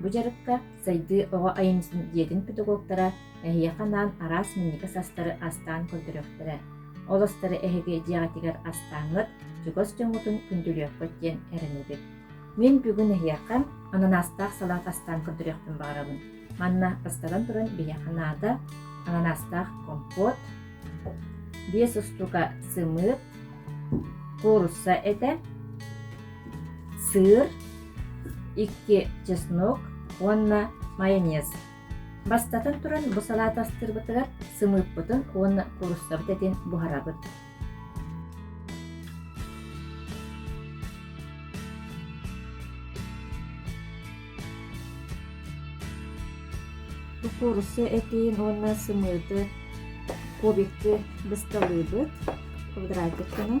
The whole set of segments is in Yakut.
Бу дьарыкка Сайдыы оҕо айымньытын дьиэтин педагогтара эһиэхэ анаан араас минньигэс астары астаан көрдөрүөхтэрэ. Ол астары эһиги дьиэҕитигэр астааҥҥыт, чугас дьоҥҥутун күндүлүөххүт диэн эрэнэбит. Мин бүгүн эһиэхэ ананаастаах салаат астаан көрдөрүөхпүн баҕарабын. Манна бастатан туран биһиэхэ наада ананаастаах компот, биэс устуука сымыыт, куурусса этэ, сыыр, икки чеснок уонна майонез бастатан туран бу салаата астыырбытыгар сымыыппытын уонна куруссабыт этин буһарабыт бу курусса этин уонна сымыыты кубикты бысталыыбыт квадратиккынан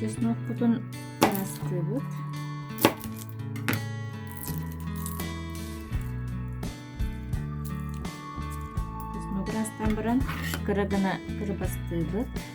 чеснокпутун ыраастыыбыт чеснок ыраастаан баран кыра гына кырыбастыыбыт